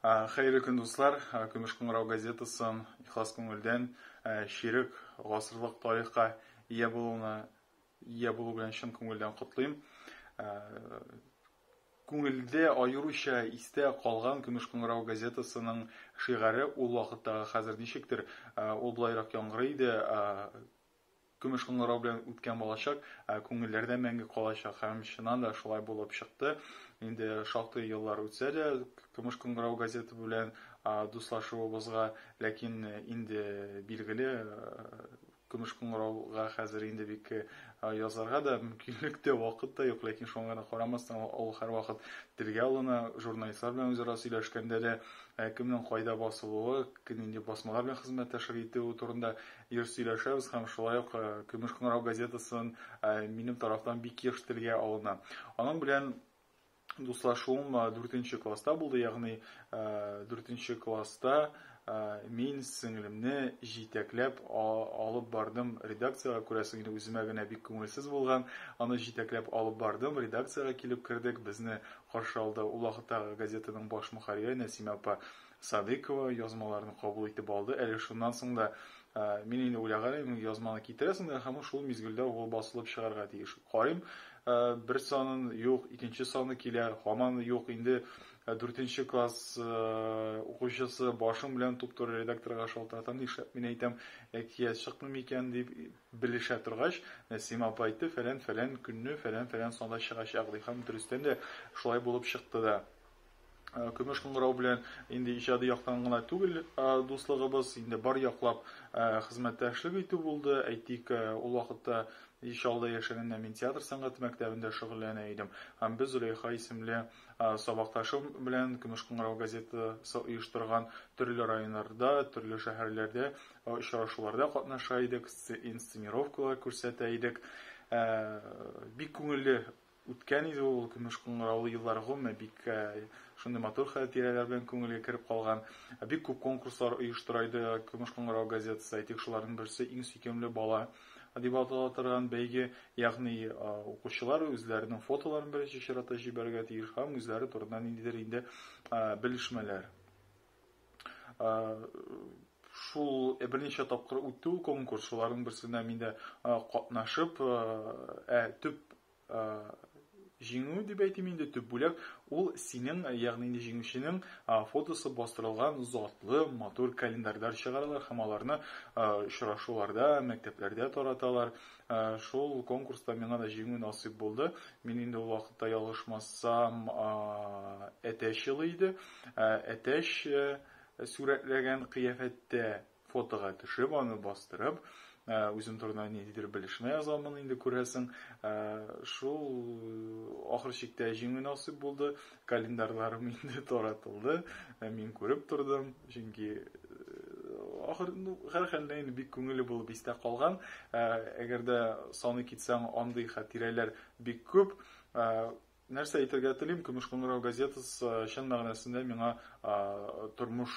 Хәерле көн, дуслар! Көмеш кыңгырау газетасын ихлас күңелдән чирек гасырлык тарихка ия булуны, ия булу белән чын күңелдән котлыйм. Күңелдә аеруча истә калган Көмеш кыңгырау газетасының шигаре ул вакыттагы хәзер ничектер, ул болайрак яңгырый иде, Көмеш кыңгырау белән үткән балачак күңелләрдә мәңге калачак. Һәм чыннан да шулай булып чыкты. Инде шактый еллар үтсә дә, Көмеш кыңгырау газеты белән дуслашуыбызга, ләкин инде билгеле, Көмеш кыңгырауга хәзер инде бик язарга да мөмкинлек тә, вакыт та юк, ләкин шуңа да карамастан, ул һәрвакыт телгә алына, журналистлар белән үзара сөйләшкәндә дә, кемнең кайда басылуы, нинди басмалар белән хезмәттәшлек итүе турында Еш сөйләшәбез һәм шулай ук Көмеш кыңгырау газетасын минем тарафтан бик еш телгә алына. Аның белән дуслашуым дүртенче класста булды, ягъни дүртенче класста мин сеңлемне җитәкләп алып бардым редакциягә, күрәсең инде үземә генә бик күңелсез булган, аны җитәкләп алып бардым, редакциягә килеп кердек, безне каршы алды ул вакыттагы газетаның баш мөхәррире Нәсимә апа. Садыкова язмаларын кабул итеп алды. Әле шуннан соң да мин инде уйлаган идем, язманы китерәсең дә, һәм шул мизгелдә ул басылып чыгарга тиеш. Карыйм, бер санын юк, икенче саны килә, һаман юк. Инде дүртенче класс укучысы башым белән туп-туры редакторга шалтыратам, нишләп мин әйтәм, әкият чыкмый микән дип белешә торгач, Нәсима апа әйтте, фәлән-фәлән көнне, фәлән-фәлән санда чыгачак, ди һәм дөрестән дә шулай булып чыкты да. Э, көмеш кыңгырау белән инде иҗади яктан гына түгел э, дуслыгыбыз инде бар яклап э, хезмәттәшлек итү булды әйтик ул вакытта ишалда яшәгәндә мин театр сәнгате мәктәбендә шөгыльләнә идем һәм без зөләйха исемле сабакташым белән көмеш кыңгырау газетасы оештырган төрле районнарда төрле шәһәрләрдә очрашуларда катнаша идек инсценировкалар күрсәтә идек бик күңелле Үткән иде ул көмеш кыңгыраулы еллар гомуме бик шундый матур хәтирәләр белән күңелгә кереп калган. Бик күп конкурслар оештырайды Көмеш кыңгырау газетасы, әйтик шуларның берсе иң сөйкемле бала дип атала торган бәйге, ягъни укучылар үзләренең фотоларын беренче чиратта җибәрергә тиеш һәм үзләре турында ниндидер инде белешмәләр. шул берничә тапкыр үтте ул конкурс шуларның берсенә мин дә катнашып ә төп җиңү дип әйтим инде төп бүләк ул синең ягъни инде җиңүченең фотосы бастырылган затлы матур календарьлар чыгаралар һәм аларны очрашуларда мәктәпләрдә тараталар Шул конкурста миңа да җиңү насыйп булды. Мин инде ул вакытта ялгышмасам әтәч елы иде. Әтәч сурәтләгән кыяфәттә фотога төшеп, аны бастырып, үзем турында ниндидер белешмә язамын инде күрәсең. Шул ахыр чиктә җиңү насыйп булды. Календарьларым инде таратылды, ә мин күреп тордым, чөнки ахыр ну һәрхәлдә инде бик күңелле булып истә калган ә, әгәр дә саны китсәң андый хатирәләр бик күп ә, нәрсә әйтергә телим көмеш кыңгырау газетасы чын мәгънәсендә миңа тормыш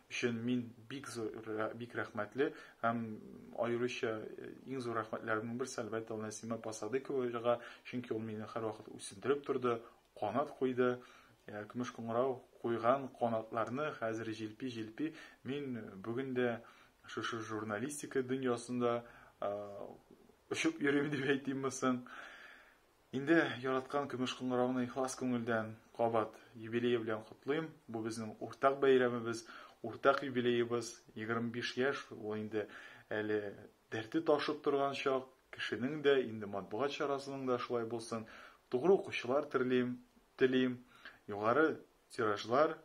өчен мин бик зур бик рәхмәтле һәм аеруча иң зур рәхмәтләремнең берсе әлбәттә ул Нәсимә Пасадыковага, чөнки ул мине һәрвакыт үсендереп торды, канат куйды. Э, көмеш куңрау куйган канатларны хәзер җилпи җилпи мин бүген дә шушы журналистика дөньясында э, очып йөрим дип әйтимме соң Инде яраткан көмеш кыңгыравны ихлас күңелдән кабат юбилее белән котлыйм. Бу безнең уртак бәйрәмебез, уртак юбилеебыз. 25 яшь, ул инде әле дәрте ташып торган чак. Кешенең дә, инде матбугат чарасының да шулай булсын. Тугры укучылар терлим, телим, югары тиражлар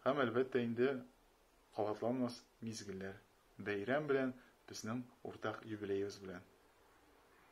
һәм, әлбәттә инде, кабатланмас мизгелләр. Бәйрәм белән, безнең уртак юбилеебыз белән!